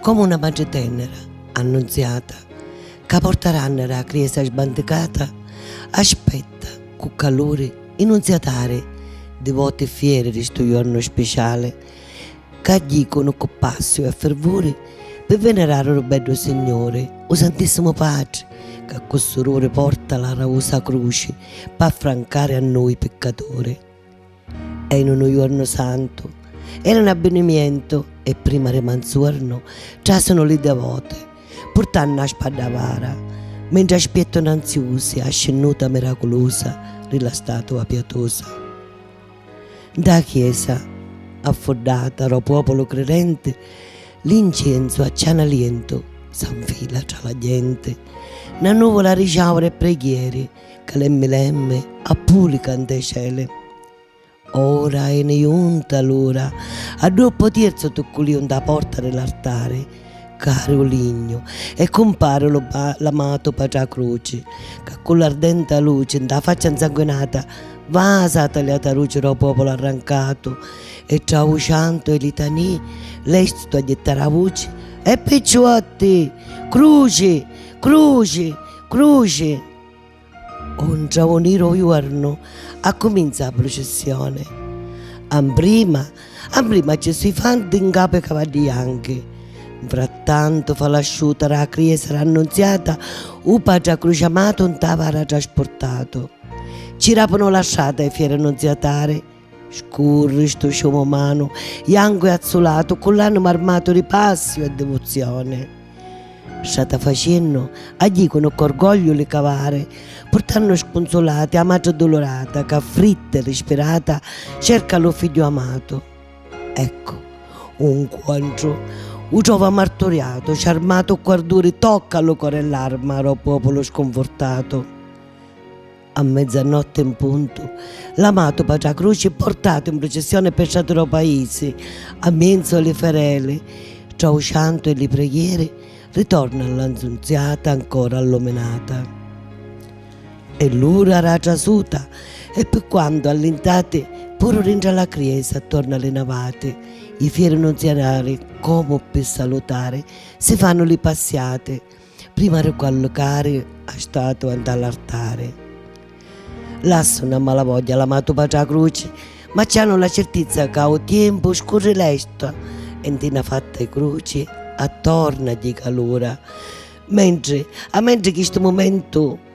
Comu 'na matri tennera, annunziata, ca porta rannera a 'a criesa sbanticata, aspetta cu caluri 'i nunziatari divoti e fieri di 'stu jornu spiciali, ca jicunu cu passiu e fervuri pi venerari ru beddu Signuri, 'u Santissimu Patri, ca cu sururi porta la rausa cruci, p'affrancari a nui piccaturi. E in unu juornu santu. Era un abbinimientu e prima ri manzuornu trasunu li devoti purtannu a spaddavara mentri aspietunu anziusi a scinnuta miraculusa ri la statua piatusa. Nta a chiesa affuddata ro puopulu cridenti l'incienzu a ciana lientu s'anfila tra la genti. Na nuvula ri ciauri e preghieri Calemmi lemmi a pulica nte celi. Ora eni junta l'ura, addua po tierzu tucculiu nta porta di l'artari, cari u lignu e cumpari lu l'amatu Patrà Cruci, ca cu l'ardenta luci nta faccia nsanguinata vasa a talià taruci ro populu arrancatu e tra u ciantu e litanii lestu a jittari a vuci, E picciuotti! Cruci! Cruci! Cruci! O ntraunir o juornu accuminza a prucissioni. Amprima amprima a Gesù i fanti ncapu i cavaddi janchi. Nfrattantu fa l'asciuta ra criesa ra Annunziata u patri accruciamatu nt'avara traspurtatu. Ci rapunu la strata i fieri nunziatari. Scurri stu ciumu umanu, jancu e azzulatu, ccu l'anima armatu di passiu e divuzioni. Strata faciennu, agghiicunu ccu orgogliu li cavari, purtannu scunzulati a matri dulurata ca, fritta e rispirata, cerca lu figghiu amatu. Eccu, u 'ncuontru, u trova marturiatu, ciarmatu ccu arduri tocca a lu cori e l'arma ro populu scunfurtatu. A mezzanotti 'n puntu, l'amatu patri 'a cruci, portatu in prucissioni ppê strati d' 'o paisi, a mienzu 'e li fereli, tra 'u ciantu e li preghieri, ritorna lla 'Nnunziata ancora alluminata. È l'ura d' 'a trasuta e ppi quantu allintati, puru dintra la criesa attornu a li navati, i fieri nunzianali, comu ppi salutari, si fannu li passiati. Prima ri cuallucari a statua 'nta l'artari lassu 'na malavogghia l'amatu patri 'a cruci ma ci hanu la cirtizza ca 'u tiempu scurri lestu e 'nti 'na fatta 'i cruci attornu a gghì calura mentri a mentri chistu mumentu